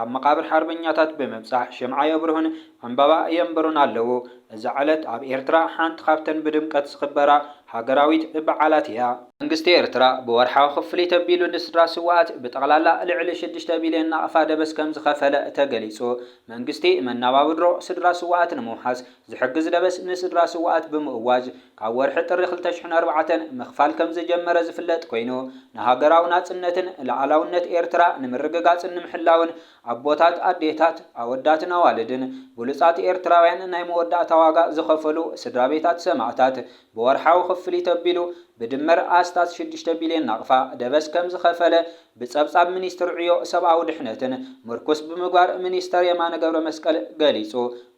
ኣብ መቓብር ሓርበኛታት ብምብጻሕ ሽምዓ የብርሁን ዕምባባ የንብሩን ኣለዉ። እዛ ዕለት ኣብ ኤርትራ ሓንቲ ካብተን ብድምቀት ዝኽበራ ሃገራዊት በዓላት እያ። መንግስቲ ኤርትራ ብወርሓዊ ክፍሊት ኣቢሉ ንስድራ ስዉኣት ብጠቕላላ ልዕሊ ሽዱሽተ ቢልዮን ናቕፋ ደበስ ከምዝኸፈለ ተገሊጹ። መንግስቲ መናባብድሮ ስድራ ስዉኣት ንምውሓስ ዝሕግዝ ደበስ ንስድራ ስውኣት ብምእዋጅ ካብ ወርሒ ጥሪ ክልተ ሽሕን ኣርባዕተን ምኽፋል ከምዝጀመረ ዝፍለጥ ኮይኑ ንሃገራዊ ናጽነትን ልኣላውነት ኤርትራ ንምርግጋጽን ንምሕላውን ኣቦታት ኣዴታት ኣወዳትን ኣዋልድን ብሉጻት ኤርትራውያን ናይ መወዳእታ ዋጋ ዝኸፈሉ ስድራቤታት ሰማእታት ብወርሓዊ ክፍሊት ኣቢሉ ብድምር ኣስታት ሽዱሽተ ቢልዮን ናቕፋ ደበስ ከምዝኸፈለ ብጸብጻብ ሚኒስትሪ ዕዮ ሰብኣዊ ድሕነትን ምርኩስ ብምግባር ሚኒስተር የማነ ገብረመስቀል ገሊጹ።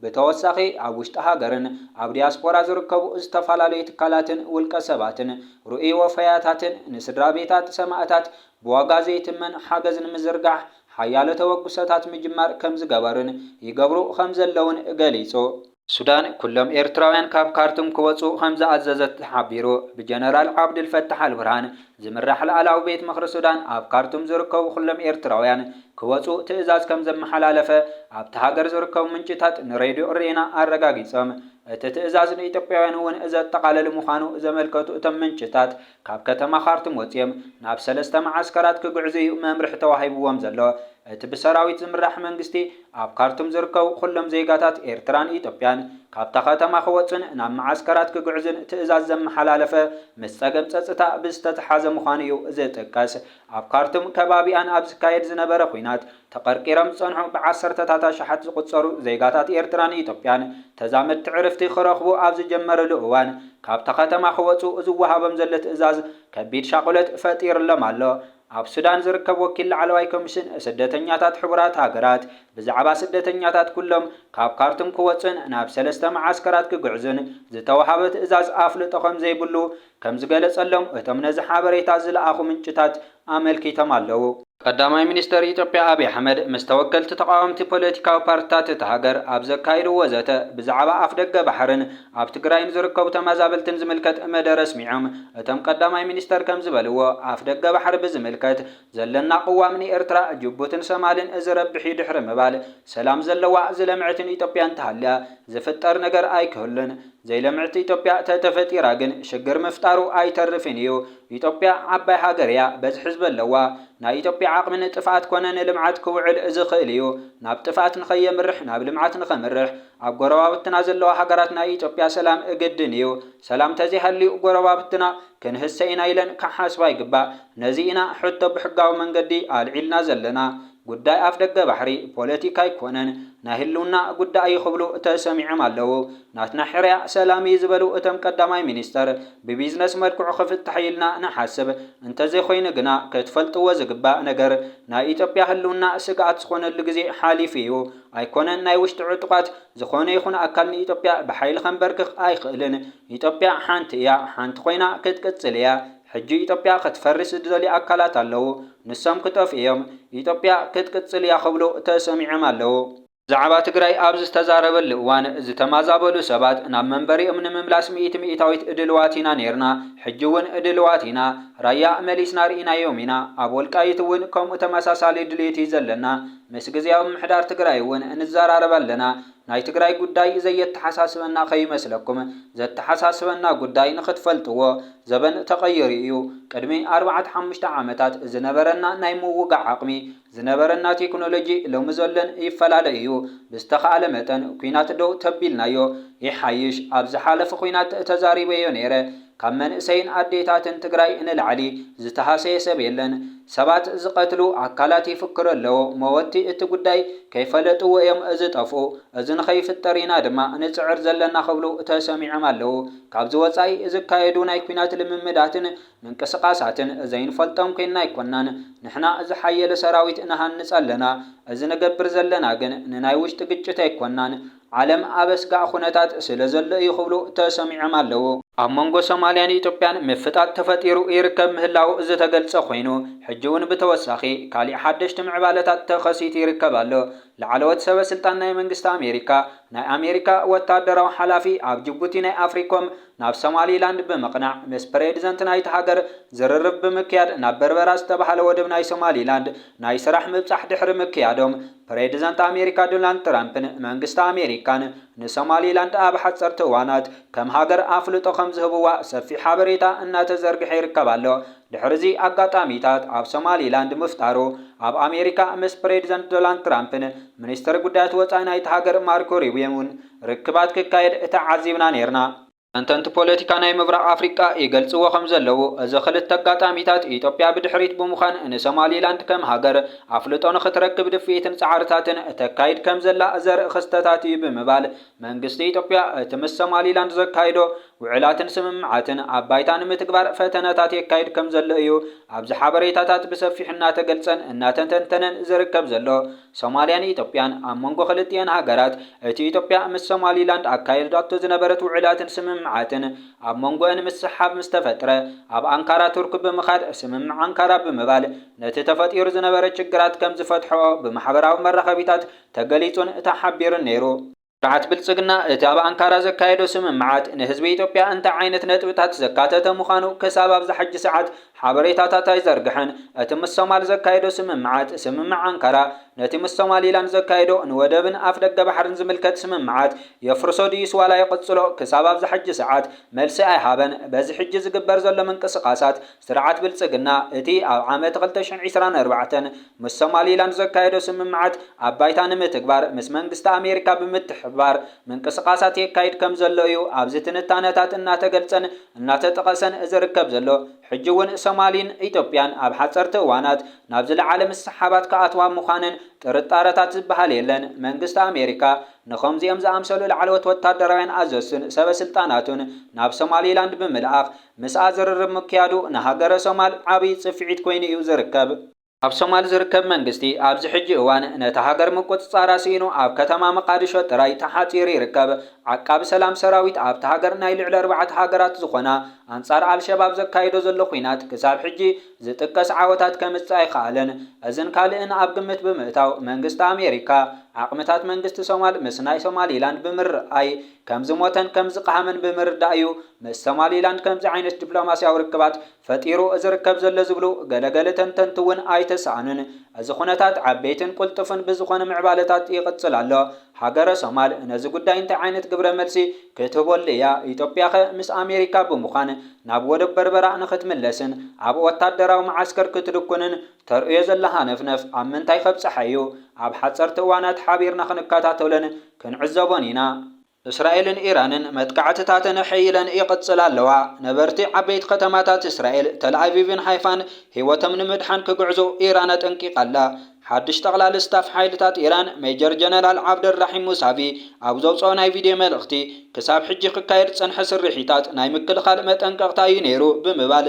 ብተወሳኺ ኣብ ውሽጢ ሃገርን ኣብ ዲያስፖራ ዝርከቡ ዝተፈላለዩ ትካላትን ውልቀ ሰባትን ርኡይ ወፈያታትን ንስድራቤታት ሰማእታት ብዋጋ ዘይትመን ሓገዝ ንምዝርጋሕ ሓያሎ ተበግሶታት ምጅማር ከምዝገበሩን ይገብሩ ከምዘለዉን ገሊጹ። ሱዳን ኩሎም ኤርትራውያን ካብ ካርቱም ክወጽኡ ከምዝኣዘዘት ተሓቢሩ። ብጀነራል ዓብዱልፈታሕ ኣልቡርሃን ዝምራሕ ላዕላዊ ቤት ምኽሪ ሱዳን ኣብ ካርቱም ዝርከቡ ኩሎም ኤርትራውያን ክወጽኡ ትእዛዝ ከምዘመሓላለፈ ኣብታ ሃገር ዝርከቡ ምንጭታት ንሬድዮ ሬና ኣረጋጊጾም። እቲ ትእዛዝ ንኢትዮጵያውያን እውን ዘጠቓልል ምዃኑ ዘመልከቱ እቶም ምንጭታት፣ ካብ ከተማ ኻርቱም ወጺኦም ናብ ሰለስተ መዓስከራት ክግዕዙ'ዩ መምርሒ ተዋሂብዎም ዘሎ። እቲ ብሰራዊት ዝምራሕ መንግስቲ፣ ኣብ ካርቱም ዝርከቡ ኹሎም ዜጋታት ኤርትራን ኢትዮጵያን ካብታ ከተማ ክወጹን ናብ መዓስከራት ክግዕዙን ትእዛዝ ዘመሓላለፈ ምስ ጸገም ጸጽታ ብዝተተሓዘ ምዃኑ'ዩ ዝጥቀስ። ኣብ ካርቱም ከባቢኣን ኣብ ዝካየድ ዝነበረ ኹናት፣ ተቐርቂሮም ዝጸንሑ ብዓሰርተታት ኣሽሓት ዝቑጸሩ ዜጋታት ኤርትራን ኢትዮጵያን ተዛመድቲ ዕርፍቲ ክረኽቡ ኣብ ዝጀመርሉ እዋን ካብታ ከተማ ክወጹ ዝወሃቦም ዘሎ ትእዛዝ ከቢድ ሻቕሎት ፈጢርሎም ኣሎ። ኣብ ሱዳን ዝርከብ ወኪል ላዕለዋይ ኮሚሽን ስደተኛታት ሕቡራት ሃገራት ብዛዕባ ስደተኛታት ኩሎም ካብ ካርቱም ክወጹን ናብ ሰለስተ መዓስከራት ክግዕዙን ዝተወሃበ ትእዛዝ ኣፍልጦ ከምዘይብሉ ከም ዝገለጸሎም እቶም ነዚ ሓበሬታ ዝለኣኹ ምንጭታት ኣመልኪቶም ኣለዉ። ቀዳማይ ሚኒስተር ኢትዮጵያ ኣብይ ኣሕመድ ምስ ተወከልቲ ተቓወምቲ ፖለቲካዊ ፓርትታት እታ ሃገር ኣብ ዘካይድዎ ዘተ ብዛዕባ ኣፍደገ ባሕርን ኣብ ትግራይ ንዝርከቡ ተመዛበልትን ዝምልከት መደረ ኣስሚዖም። እቶም ቀዳማይ ሚኒስተር ከም ዝበልዎ፣ ኣፍደገ ባሕሪ ብዝምልከት ዘለና ቅዋም ንኤርትራ፣ ጅቡትን ሶማልን ዝረብሕ'ዩ ድሕሪ ምባል፣ ሰላም ዘለዋ፣ ዝለምዐትን ኢትዮጵያ እንተሃልያ ዝፍጠር ነገር ኣይክህሉን። ዘይለምዕቲ ኢትዮጵያ ተተፈጢራ ግን ሽግር ምፍጣሩ ኣይተርፍን እዩ። ኢትዮጵያ ዓባይ ሃገር እያ፣ በዝሒ ህዝቢ ኣለዋ። ናይ ኢትዮጵያ ዓቕሚ ንጥፍኣት ኮነ ንልምዓት ክውዕል ዝኽእል እዩ። ናብ ጥፍኣት ንኸየምርሕ ናብ ልምዓት ንኸምርሕ ኣብ ጎረባብትና ዘለዋ ሃገራት ናይ ኢትዮጵያ ሰላም ግድን እዩ። ሰላም ተዘይሃልዩ ጎረባብትና ክንህሰ ኢና ኢለን ክሓስባ ይግባእ። ነዚ ኢና ሕቶ ብሕጋዊ መንገዲ ኣልዒልና ዘለና። ጉዳይ ኣፍደገ ባሕሪ ፖለቲካ ኣይኮነን ናይ ህልውና ጉዳይ እዩ ክብሉ ተሰሚዖም ኣለው። ናትና ሕርያ ሰላም እዩ ዝበሉ እቶም ቀዳማይ ሚኒስትር ብቢዝነስ መልክዑ ክፍታሕ እዩ ኢልና ንሓስብ። እንተዘይኮይኑ ግና ክትፈልጥዎ ዝግባእ ነገር ናይ ኢትዮጵያ ህልውና ስግኣት ዝኾነሉ ግዜ ሓሊፉ እዩ። ኣይኮነን ናይ ውሽጢ ዕጡቓት ዝኾነ ይኹን ኣካል ንኢትዮጵያ ብሓይሊ ከምበርክኽ ኣይኽእልን። ኢትዮጵያ ሓንቲ እያ ሓንቲ ኮይና ክትቅፅል እያ። ሕጂ ኢትዮጵያ ክትፈርስ ዝደልዩ ኣካላት ኣለዉ፣ ንሶም ክጠፍኡ ኢዮም፣ ኢትዮጵያ ክትቅጽል ኢያ ክብሉ ተሰሚዖም ኣለዉ። ብዛዕባ ትግራይ ኣብ ዝተዛረበሉ እዋን ዝተማዛበሉ ሰባት ናብ መንበሪኦም ንምምላስ ሚእቲ ሚኢታዊት ድልዋት ኢና ኔርና፣ ሕጂ እውን ድልዋት ኢና፣ ራያ መሊስና ርኢናዮም ኢና፣ ኣብ ወልቃይት እውን ከምኡ ተመሳሳሊ ድሌት ኢዩ ዘለና፣ ምስ ግዝያዊ ምምሕዳር ትግራይ እውን ንዘራረብ ኣለና፣ ናይ ትግራይ ጉዳይ ዘየተሓሳስበና ከይመስለኩም ዘተሓሳስበና ጉዳይ ንኽትፈልጥዎ ዘበን ተቐይሩ እዩ ቅድሚ ኣርባዕተ ሓሙሽተ ዓመታት ዝነበረና ናይ ምውጋዕ ዓቕሚ ዝነበረና ቴክኖሎጂ ሎሚ ዘሎን ይፈላለ እዩ ብዝተኻእለ መጠን ኩናት ደው ተቢልናዮ ይሓይሽ ኣብ ዝሓለፈ ኩናት ተዛሪበዮ ነይረ ካብ መንእሰይን ኣዴታትን ትግራይ ንላዕሊ ዝተሃሰየ ሰብ የለን። ሰባት ዝቀትሉ ኣካላት ይፍክሩ ኣለዉ መወቲ እቲ ጉዳይ ከይፈለጥዎ እዮም ዝጠፍኡ እዚ ንከይፍጠር ኢና ድማ ንፅዕር ዘለና ክብሉ ተሰሚዖም ኣለዉ። ካብዚ ወፃኢ ዝካየዱ ናይ ኲናት ልምምዳትን ምንቅስቃሳትን ዘይንፈልጦም ኮይንና ኣይኮናን። ንሕና ዝሓየለ ሰራዊት ንሃንፅ ኣለና እዚ ንገብር ዘለና ግን ንናይ ውሽጢ ግጭት ኣይኮናን። ዓለም ኣብ ኣስጋእ ኹነታት ስለዘሎ እዩ ክብሉ ተሰሚዖም ኣለው። ኣብ መንጎ ሶማሊያን ኢትዮጵያን ምፍጣጥ ተፈጢሩ ይርከብ ምህላዉ ዝተገልጸ ኮይኑ፣ ሕጂ'ውን ብተወሳኺ ካሊእ ሓደሽቲ ምዕባለታት ተኸሲቱ ይርከብ ኣሎ። ላዕለዎት ሰበስልጣን ናይ መንግስቲ ኣሜሪካ፣ ናይ ኣሜሪካ ወታደራዊ ሓላፊ ኣብ ጅቡቲ ናይ ኣፍሪኮም ናብ ሶማሊላንድ ብምቕናዕ ምስ ፕሬድዘንት ናይታ ሃገር ዝርርብ ብምክያድ ናብ በርበራ ዝተባህለ ወደብ ናይ ሶማሊላንድ ናይ ስራሕ ምብጻሕ ድሕሪ ምክያዶም ፕሬዝደንት ኣሜሪካ ዶናልድ ትራምፕን መንግስቲ ኣሜሪካን ንሶማሊላንድ ኣብ ሓፀርቲ እዋናት ከም ሃገር ኣፍልጦ ከምዝህብዋ ሰፊሕ ሓበሬታ እናተዘርግሐ ይርከብ ኣሎ። ድሕሪ'ዚ ኣጋጣሚታት ኣብ ሶማሊላንድ ምፍጣሩ ኣብ ኣሜሪካ ምስ ፕሬዝደንት ዶናልድ ትራምፕን ሚኒስትር ጉዳያት ወፃኢ ናይታ ሃገር ማርኮ ሩቢዮን'ውን ርክባት ክካየድ ተዓዚብና ነይርና። ተንተንቲ ፖለቲካ ናይ ምብራቕ ኣፍሪቃ ይገልጽዎ ከም ዘለዉ፣ እዚ ክልተ ኣጋጣሚታት፣ ኢትዮጵያ ብድሕሪት ብምዃን ንሶማሊላንድ ከም ሃገር ኣፍልጦ ንኽትረክብ ድፍኢትን ጻዕርታትን እተካይድ ከም ዘላ ዘርኢ ክስተታት እዩ ብምባል፣ መንግስቲ ኢትዮጵያ እቲ ምስ ሶማሊላንድ ዘካይዶ ውዕላትን ስምምዓትን ኣብ ባይታ ንምትግባር ፈተነታት የካይድ ከም ዘሎ እዩ ኣብዚ ሓበሬታታት ብሰፊሑ እናተገልጸን እናተተንተነን ዝርከብ ዘሎ። ሶማልያን ኢትዮጵያን፣ ኣብ መንጎ ክልቲኤን ሃገራት፣ እቲ ኢትዮጵያ ምስ ሶማሊላንድ ኣካየድዳቶ ዝነበረት ውዕላትን ስምምዓትን፣ ኣብ መንጎኤን ምስሕሓብ ምስ ተፈጥረ፣ ኣብ ኣንካራ ቱርክ ብምኻድ፣ ስምምዕ ኣንካራ ብምባል፣ ነቲ ተፈጢሩ ዝነበረ ችግራት ከም ዝፈትሕኦ ብማሕበራዊ መራኸቢታት ተገሊጹን ተሓቢሩን ነይሩ። ስርዓት ብልጽግና እቲ ኣብ ኣንካራ ዘካየዶ ስምምዓት ንህዝቢ ኢትዮጵያ እንታይ ዓይነት ነጥብታት ዘካተተ ምዃኑ ክሳብ ኣብዛ ሕጂ ሰዓት ሓበሬታታት ኣይዘርግሐን። እቲ ምስ ሶማል ዘካየዶ ስምምዓት፣ ስምምዕ ኣንካራ፣ ነቲ ምስ ሶማሊላንድ ዘካየዶ ንወደብን ኣፍደገ ባሕርን ዝምልከት ስምምዓት የፍርሶ ድዩስ ዋላ ይቕጽሎ ክሳብ ኣብዛ ሕጂ ሰዓት መልሲ ኣይሃበን። በዚ ሕጂ ዝግበር ዘሎ ምንቅስቓሳት ስርዓት ብልጽግና፣ እቲ ኣብ ዓመት ክልተ ሽሕን ዒስራን ኣርባዕተን ምስ ሶማሊላንድ ዘካየዶ ስምምዓት ኣብ ባይታ ንምትግባር ምስ መንግስቲ ኣሜሪካ ብምትሕብባር ምንቅስቓሳት የካይድ ከም ዘሎ እዩ ኣብዚ ትንታነታት እናተገልጸን እናተጠቐሰን ዝርከብ ዘሎ። ሕጂ እውን ሶማሊን ኢትዮጵያን ኣብ ሓጸርቲ እዋናት ናብ ዝለዓለ ምስሕሓባት ክኣትዋ ምዃነን ጥርጣረታት ዝበሃል የለን። መንግስቲ ኣሜሪካ ንኸምዚኦም ዝኣምሰሉ ላዕለዎት ወታደራውያን ኣዘዝቱን ሰበ ስልጣናቱን ናብ ሶማሊላንድ ብምልኣኽ ምስኣ ዝርርብ ምክያዱ ንሃገረ ሶማል ዓብይ ፅፍዒት ኮይኑ እዩ ዝርከብ። ኣብ ሶማል ዝርከብ መንግስቲ ኣብዚ ሕጂ እዋን ነታ ሃገር ምቁፅፃራ ስኢኑ ኣብ ከተማ መቃድሾ ጥራይ ተሓፂሩ ይርከብ። ዓቃቢ ሰላም ሰራዊት ኣብታ ሃገር ናይ ልዕሊ ኣርባዕተ ሃገራት ዝኾና ኣንፃር ኣልሸባብ ዘካይዶ ዘሎ ኹናት ክሳብ ሕጂ ዝጥቀስ ዓወታት ከምፅእ ኣይኸኣለን። እዝን ካልእን ኣብ ግምት ብምእታው መንግስቲ ኣሜሪካ ዓቕምታት መንግስቲ ሶማል ምስ ናይ ሶማሊላንድ ብምርኣይ ከም ዝሞተን ከም ዝቐሃመን ብምርዳእ እዩ ምስ ሶማሊላንድ ከምዚ ዓይነት ዲፕሎማስያዊ ርክባት ፈጢሩ ዝርከብ ዘሎ ዝብሉ ገለ ገለ ተንተንቲ እውን ኣይተሳእኑን። እዚ ኩነታት ዓበይትን ቁልጡፍን ብዝኾነ ምዕባለታት ይቕጽል ኣሎ። ሃገረ ሶማል ነዚ ጉዳይ እንታይ ዓይነት ግብረ መልሲ ክትህበሉ እያ? ኢትዮጵያኸ ምስ ኣሜሪካ ብምዃን ናብ ወደብ በርበራ ንክትምለስን ኣብ ወታደራዊ መዓስከር ክትድኩንን ተርእዮ ዘላ ሃነፍነፍ ኣብ ምንታይ ከብጽሓ እዩ? ኣብ ሓጸርቲ እዋናት ሓቢርና ክንከታተሎን ክንዕዘቦን ኢና። እስራኤልን ኢራንን መጥቃዕትታተን ኣሐይለን ይቕጽላ ኣለዋ። ነበርቲ ዓበይቲ ከተማታት እስራኤል፣ ተልኣቪቭን ሃይፋን፣ ህይወቶም ንምድሓን ክግዕዙ ኢራን ኣጠንቂቓ ኣላ። ሓድሽ ጠቕላሊ ስታፍ ሓይልታት ኢራን ሜጀር ጀነራል ዓብደልራሒም ሙሳቪ ኣብ ዘውጽኦ ናይ ቪድዮ መልእኽቲ፣ ክሳብ ሕጂ ክካየድ ዝጸንሐ ስርሒታት ናይ ምክልኻል መጠንቀቕታ እዩ ነይሩ ብምባል፣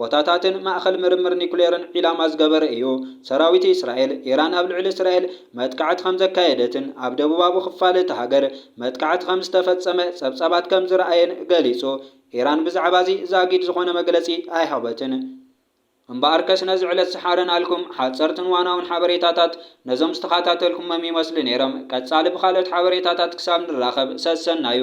ቦታታትን ማእከል ምርምር ኒኩሌርን ዒላማ ዝገበረ እዩ። ሰራዊት እስራኤል፣ ኢራን ኣብ ልዕሊ እስራኤል መጥቃዕቲ ከም ዘካየደትን ኣብ ደቡባዊ ክፋል እታ ሃገር መጥቃዕቲ ከም ዝተፈጸመ ጸብጻባት ከም ዝረኣየን ገሊጹ። ኢራን ብዛዕባ'ዚ ዛጊድ ዝዀነ መግለጺ ኣይሃበትን። እምበኣርከስ ነዚ ዕለት ዝሓረናልኩም ሓጸርትን ዋናውን ሓበሬታታት ነዞም ዝተኻታተልኩሞም ይመስሉ ነይሮም። ቀጻሊ ብኻልኦት ሓበሬታታት ክሳብ ንራኸብ ሰሰናዩ!